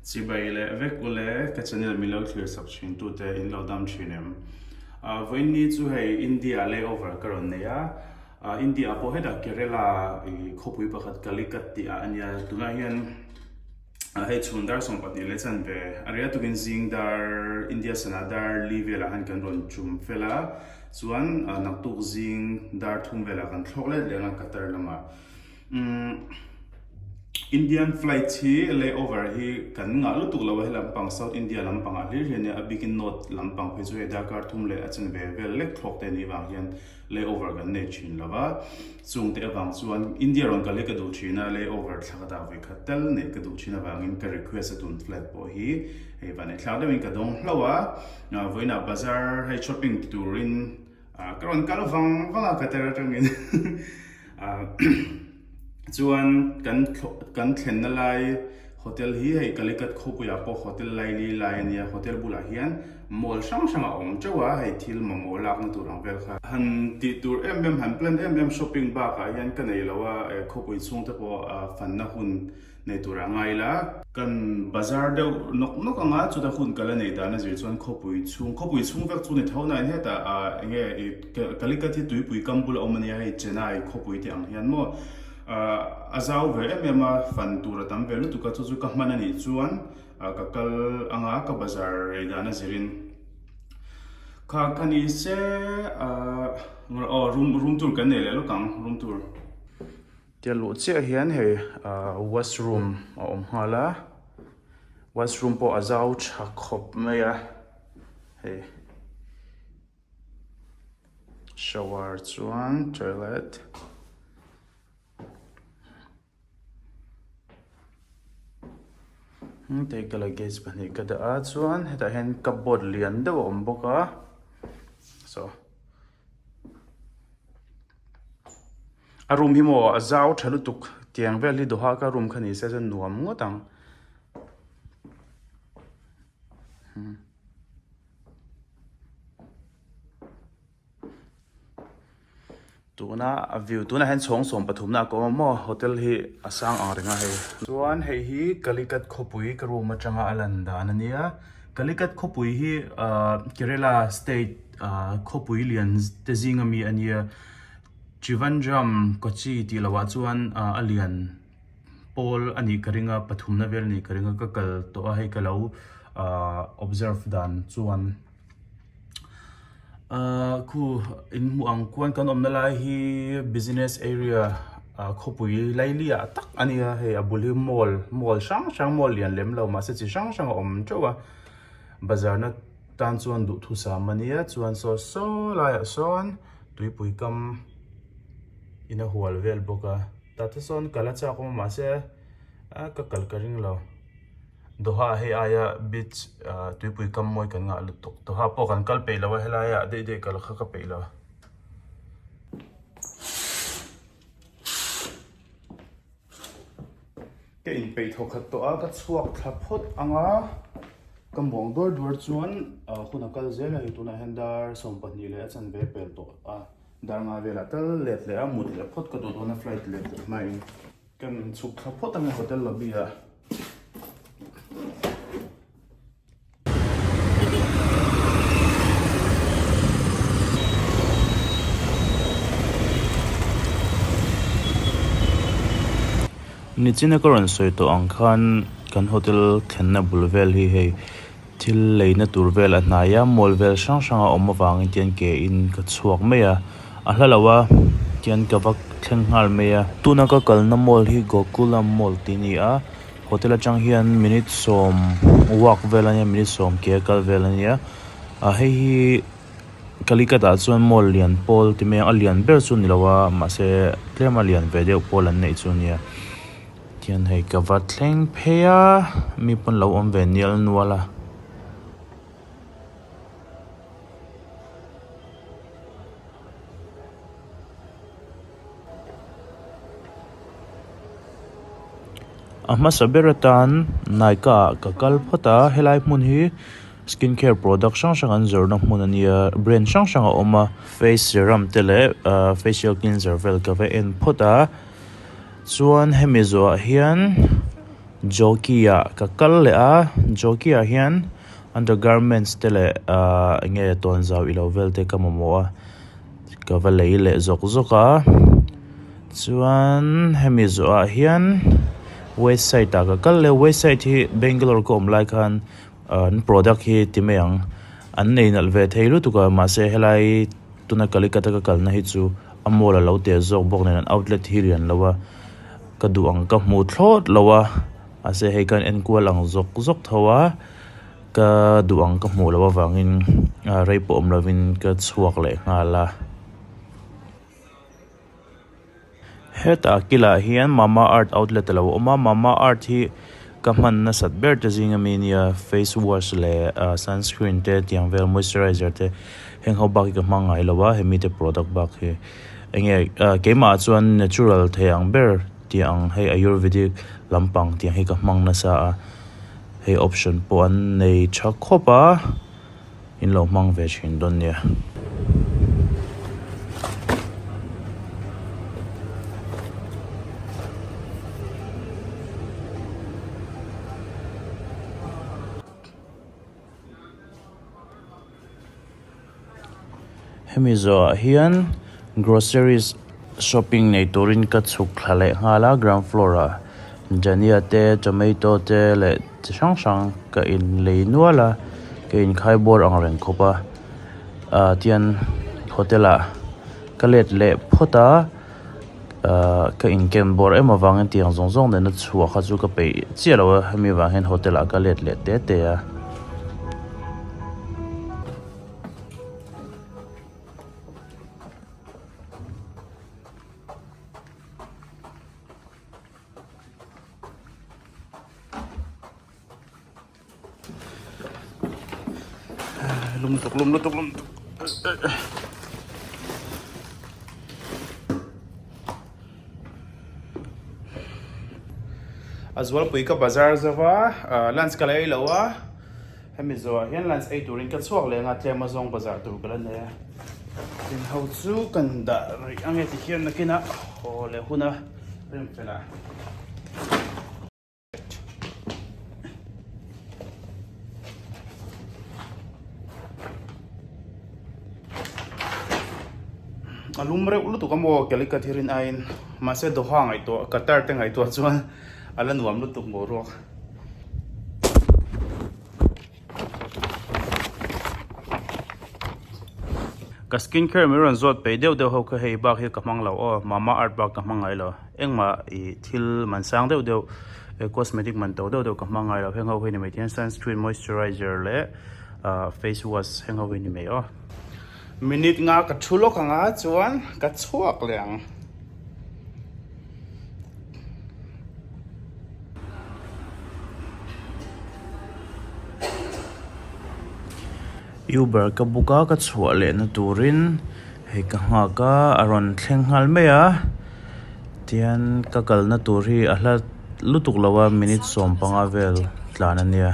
Chibai leh vek u le, ka channel min lo thlir chhawp thin tu te in lo dam thin em? Ahh vawiinni chu hei India lay over ka rawn nei a, ahh India ah pawh hetah Kerela ih khawpui pakhat Calicut tih ah a nia, tunah hian ah hei chhun dar sawm pahnih leh chanve a ria tukin zing dar India sana dar li velah hian kan rawn tum fel a, chuan naktuk zing dar thum velah kan thlawk let leh ang a Qatar lamah. Indian flights hi lay over hi kan ngah lutuk lo a he lampang South India lampang ah hlir hian a bikin north lampang phei chu hei darkar thum leh a chungve vel lek thlawk te nih vang hian lay over kan nei thin lo va chung te avang chuan India rawn kal hi ka duh thin a lay over thla ka dah ve kha tel nei ka duh thin avangin ka request a tun flight pawh hi hei vane thlak deuhin ka dawng hlauh a vawiinah bazar hei shopping ti turin Ka rawn kal vang vang a ka tar atangin chuan kan kan thlenna lai hotel hi hei Calicut khawpuiah pawh hotel Laili lai ania hotel bulah hian mall hrang hrang a awm teuh a hei thil mamawh lakna tur ang vel kha han tih tur em em han plan em em shopping bakah hian ka nei lo a khawpui chhungte pawh fanna hun Nei tur a ngai la. Kan bazar deuh nawk nawk ang a, chuta hun kal a nei dan a zir chuan khawpui chhung, khawpui chhung vek chu ni tho naiin heta ah eng nge i Calicut hi tuipui kam bula awm a nia hei Chennai khawpui tih ang hian maw ah a zau ve em em a, fan tur a tam ve lutuk a, chu chu ka hman a nih chuan ah ka kal ang a, ka bazar rei dan a zirin kha ka ni se ah engrawh aw room room tour kan nei leh lawk ang room tour. Tia luh chiah hian hei wash room a awm nghal a, wash room pawh a zau tha khawp mai a, hei shower chuan toilet hengtei ka la gas pahnih ka dah a, chuan hetah hian cupboard lian deuh a awm bawk a, so. A room hi maw a zau tha lutuk tiang vel hi doha ka room kha ni se chuan nuam ngawt ang hmm. tuna a view tuna hen chhawng sawm pathumna ka awm maw hotel hi a sang ang reng a hei chuan hei hi Calicut khawpui ka room atanga a lan dan ania Calicut khawpui hi Kerala state khawpui lian te zing a mi a nia. Trivandrum, Kochi tih lo ah chuan a lian pawl a nih ka ring a, pathumna vel a nih ka ring a, ka kal tawh a hei ka lo observe dan chuan. khu in hmuh ang kuan kan awmna lai hi business area khawpui laili ah tak a nia hei a bul hi mall mall hrang hrang mall lian lem lo mahse chi hrang hrang a awm teuh a bazar na tan chuan duhthusam a nia chuan sawi sawi laiah sawn tuipui kam in a hual vel bawk a tah te sawn kal a chak awm a mahse a ka kal ka ring lo. Doha hei aia beach tuipui kam mawi kan ngah lutuk. Doha pawh kan kal peih lo a helai a deih deih kal kha ka peih lo. Ka in peih thaw khat tawh a ka chhuak thla phawt ang a ka muang duar duar chuan hun a kal zel a tunah hian dar sawm pahnih leh a chanve pel tawh a dar nga velah tal let leh a mut leh phawt ka duh dawn a flight let leh hmain. Kan inchhuk thla phawt a nia hotel lobby ah. Nichina ka rawn sawi tawh ang khan kan hotel thlenna bul vel hi hei. Thil leina tur vel a hnaia mawl vel hrang hranga awm avangin tian ke in ka chhuak mai a, a hla lo a tian ka va thleng nghal mai a. Tuna ka kalna mawl hi Gokulam mawl tih ni a, hotel atang hian minute sawm uak vel ania minute sawm ke a kal vel ania, a hei hi Calicut ah chuan mawl lian pawl ti mai ang a, a lian ber chu ni lo a mahse tlem a lian ve deuh pawl an neih chu nia. Pathian hei ka va thleng phei a, mi pawn lo awm ve nial nual a. A hmasa ber atan Nykaa ah ka kal phawt a, helai hmun hi skin care product hrang hrang an zawrhna hmun a nia, brand hrang hrang a awm a, face serum te leh facial cleanser vel ka va en phawt a. Chuan hemi zawhah hian Jockey-a ka kal leh a, Jockey-a hian undergarments te leh aah enge tawnzau ilo vel te ka mamawh a, ka va lei leh zawk zawk a. Chuan hemi zawhah hian Westside-a ka kal leh a, Westside hi Bangalore ka awm lai khan, An product hi ti mai ang. An nei nalh ve thei lutuk a, mahse helai tuna Calicut-a ka kalna hi chu a mall a lo tel zawk bawk nen an outlet hi rian lo a, ka duh ang ka hmu thlawt lo a, mahse hei khan enkual ang zawk zawk tho a, ka duh ang ka hmuh loh avangin rei pawh awm lovin ka chhuak leh nghal a. Hetah a kilah hian Mamaearth outlet a lo awm a, Mamaearth hi ka hman nasat ber te zing a mi nia, face wash leh sunscreen te tiang vel moisturizer te heng ho bak hi ka hmang ngai lo a, hemi te product bak hi enge keimahah chuan natural thei ang ber tih ang hei ayurvedic lampang tiang hi ka hmang nasa a, hei option pawh an nei tha khawp a. in lo hmang ve thin dawn nia. Hemi zawhah hian groceries shopping nei turin ka chhuk thla leh nghal a, ground floor ah dhania te, tomato te leh chi hrang hrang ka in lei nual a, ka in khai bawr ang reng khawp a, ah tian hotel ah ka let leh phawt a, ah ka in ken bawr em avang in tiang zawng zawng nena chhuah kha chu ka peih chiah lo a, hemi vang hian hotel ah ka let leh te te a. lum tuk lum lutuk lum tuk azual pui ka bazar zawa lunch ka lei lo a Hemi zawhah hian lunch ei turin ka chhuak leh anga tlema zawng bazar tur ka la nei a. Tin ho chu kan dah rih ange ti hian nakin a haw leh hun a, rem fel a. A lum reuh lutuk a maw Calicut hi rin aiin, mahse doha ngaihtuah Qatar te ngaihtuah chuan a la nuam lutuk maw ruak. Ka skin care min rawn zawt peih deuh deuh ho kha hei bak hi ka hmang lo aw, Mamaearth bak ka hmang ngai lo, engmah ih thil man sang deuh deuh eh cosmetic man to deuh deuh ka hmang ngai lo, heng ho hi a ni mai thia sunscreen, moisturizer leh ah face wash heng ho hi a ni mai aw. Minute nga ka thu lawk ang a chuan ka chhuak leh ang. Uber ka book a ka chhuah lehna turin hei ka nghak a a rawn thleng nghal mai a tian ka kalna tur hi a hla lutuk lo a minute sawmpanga vel tlan a nia.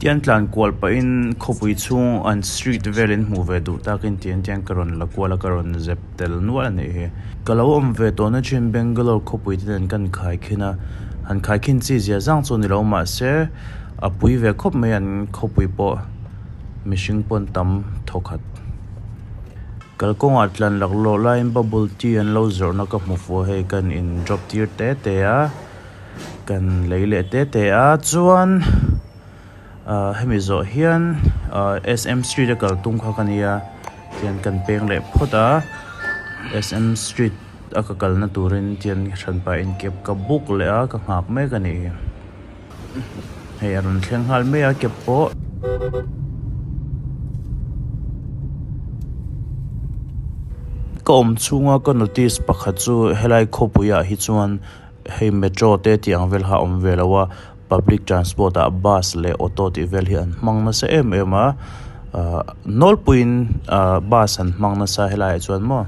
Tian tlan kual pahin khawpui chhung an street velin hmuh ve duh takin tian tian ka rawn la kual a, ka rawn zep tel nual a nih hi. Ka lo awm ve tawhna thin Bangalore khawpuite nen kan khaikhin a, han khaikhin chi zia zang chu ni lo mahse a pui ve khawp mai an khawpui pawh mihring pawn tam thaw khat. Kalkawngah tlan laklawh laiin bubble tea an lo zawrhna ka hmu fua hei kan in drop tir te te a. Kan lei leh te te a chuan ahh hemi zawh hian ahh sm street a kaltum kha ka nia tian kan peng leh phawt a sm street a ka kalna turin tian hran pah in kep ka buk leh a ka nghak mek a nih hi hei a rawn thleng nghal mai a kep pawh. Ka awm chhunga ka notice pakhat chu helai khawpuiah hi chuan. Hei metro te tih ang vel kha a awm ve lo a, public transport ah bus leh auto tih vel hi an hmang nasa em em a, nawlpuiin bus an hmang nasa helaiah chuan maw.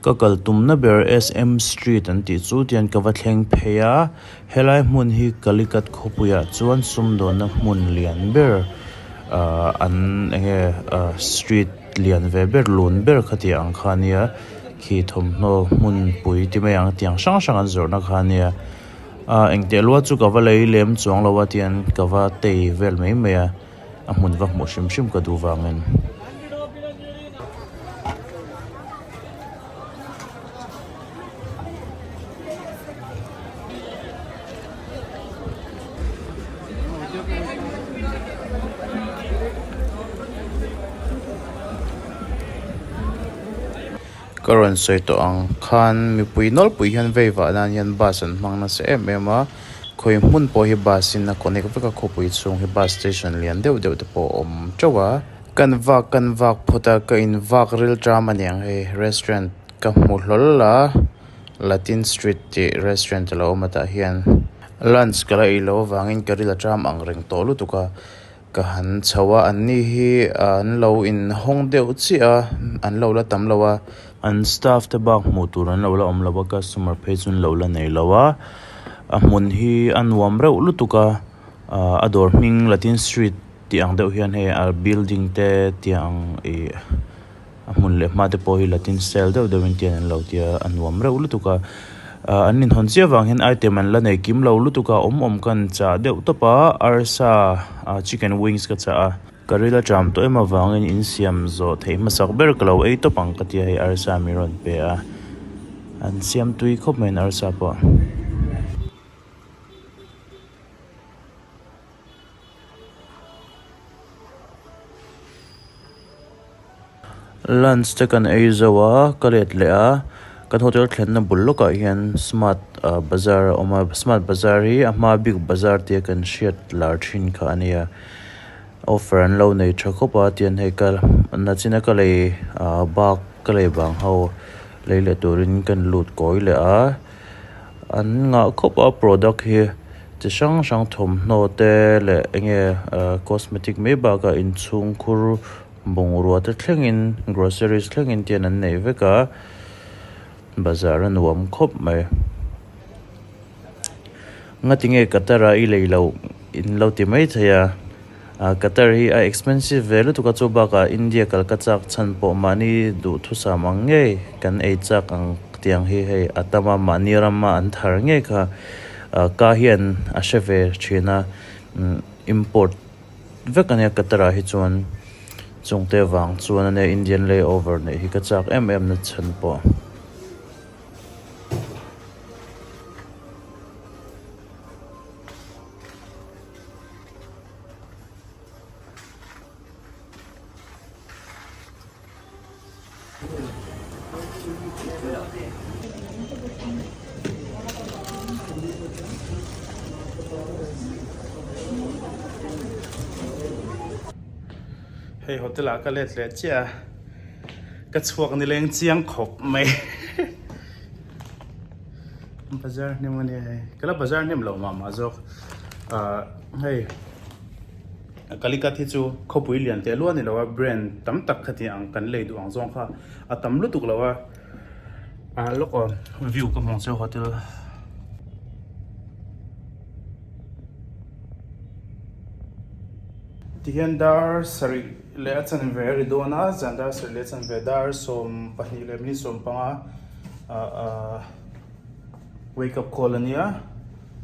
Ka kaltumna ber SM Street an tih chu tian ka va thleng phei a, helai hmun hi Calicut khawpuiah chuan sumdawnna hmun lian ber ah an eng nge ah street lian ve ber lun ber kha tih ang kha nia khi thawmhnaw hmun pui ti mai ang tiang hrang hrang an zawrhna kha nia. a engtiah lual chu ka va lei lem chuang lo a tian ka va tei vel mai mai a a hmun va hmuh hrim hrim ka duh vangin. Ka rawn sawi tawh ang khan mipui nawlpui hian vei vah nan hian bus an hmang nasa em em a, khawi hmun pawh hi bus in a connect vek a khawpui chhung hi bus station lian deuh deuh te pawh a awm teuh a. Kan vak kan vak phawt a, ka in vak ril tram a niang hei restaurant ka hmu hlawl la, Latin street tih restaurant a lo awm a tah hian lunch ka la ei lo avangin ka ril a tram ang reng tawh lutuk a, Ka han chho a, an ni hi an lo in hawng deuh chiah a, an lo la tam lo a. An staff te bak hmuh tur an lo la awm lo a, customer phei chu an lo la nei lo a. A hmun hi a nuam reuh lutuk a, a dawr hming Latin Street tih ang deuh hian hei a building te tih ang ih. A hmun leh hmate pawh hi Latin style deuh deuh in tian an lo tia a nuam reuh lutuk a, an inhawn chiah vang hian item an la nei kim lo lutuk a, awm awm kan chah deuh tawp a, arsa chicken wings ka chah a, ka ril atram tawh em avangin in siam zawh theih hmasak ber ka lo ei tawp ang ka tia hei arsa min rawn pe a, an siam tui khawp mai an arsa pawh. Lunch te kan ei zo a ka let leh a kan hotel thlenna bul lawkah hian smart ah bazar a awm a smart bazar hi a hma big bazar tia kan hriat lar thin kha a nia offer an lo nei tha khawp a tiang hei ka na chin a ka lei ah bak ka lei vang ho lei leh turin ka lut kawi leh a. An ngah khawp a product hi chi hrang hrang thawmhnaw te leh enge cosmetic mai bakah inchhungkhur bungrua te thlengin groceries thlengin te an neih vek a bazar a nuam khawp mai ngatinge ka tara i lei loh in lo ti mai thei a. Qatar hi a expensive ve lutuk a, chu bakah India kal ka chak chhan pawh mahni duhthusam ang ngei kan ei chak ang tiang hi hei a tam a, mahni rama an thar ngei kha ka hian a hre ve thin a, import vek a nia Qatar ah hi chuan, chungte avang chuan a nia Indian lay over neih hi ka chak em em na chhan pawh. hei hotel ah ka let leh chiah a ka chhuak ni leng chiang khawp mai bazar hnem ania hei ka la bazar hnem lo mah mah zawk hei kalikat hi chu khawpui lian teh luah ni lo a brand tam tak kha ti ang kan lei duh ang zawng kha a tam lutuk lo a lawk awm view ka hmuh ang chu hotel tihian dar sarih leh a chanve a ri dawn a, zian dar serh leh chanve dar sawm pahnih leh minute sawm panga wake up call a nia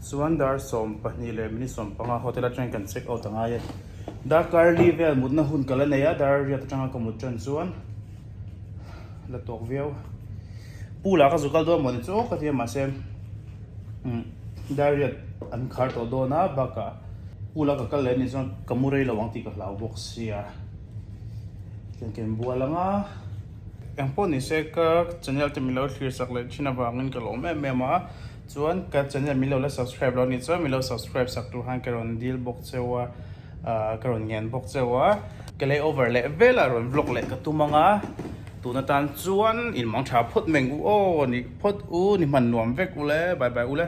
chuan dar sawm pahnih leh minute sawm panga hotel atang kan check out a ngai a ni darkar li vel mutna hun ka la nei a dar riat atanga ka mut tan chuan. la tawk viau pu lah ka zu kal dawn maw ni chu ka ti a mahse um diary a an khar tawh dawn a bakah pu lah ka kal leh ni chuan ka mu rei lo ang tih ka hlau bawk sia ken ken bual anga eng pawh ni se ka channel te min lo thlir chak leh thin avangin ka lawm em em a chuan ka channel min lo la subscribe lo a ni chuan min lo subscribe sak tur han ka rawn dil bawk cheu a. Ka rawn ngen bawk che wa, ka lay over leh vela rawn vlog leh ka tum anga tun atan chuan in mang tha phawt meng u aw, ni phawt u, ni hman nuam vek u le, bye bye u le.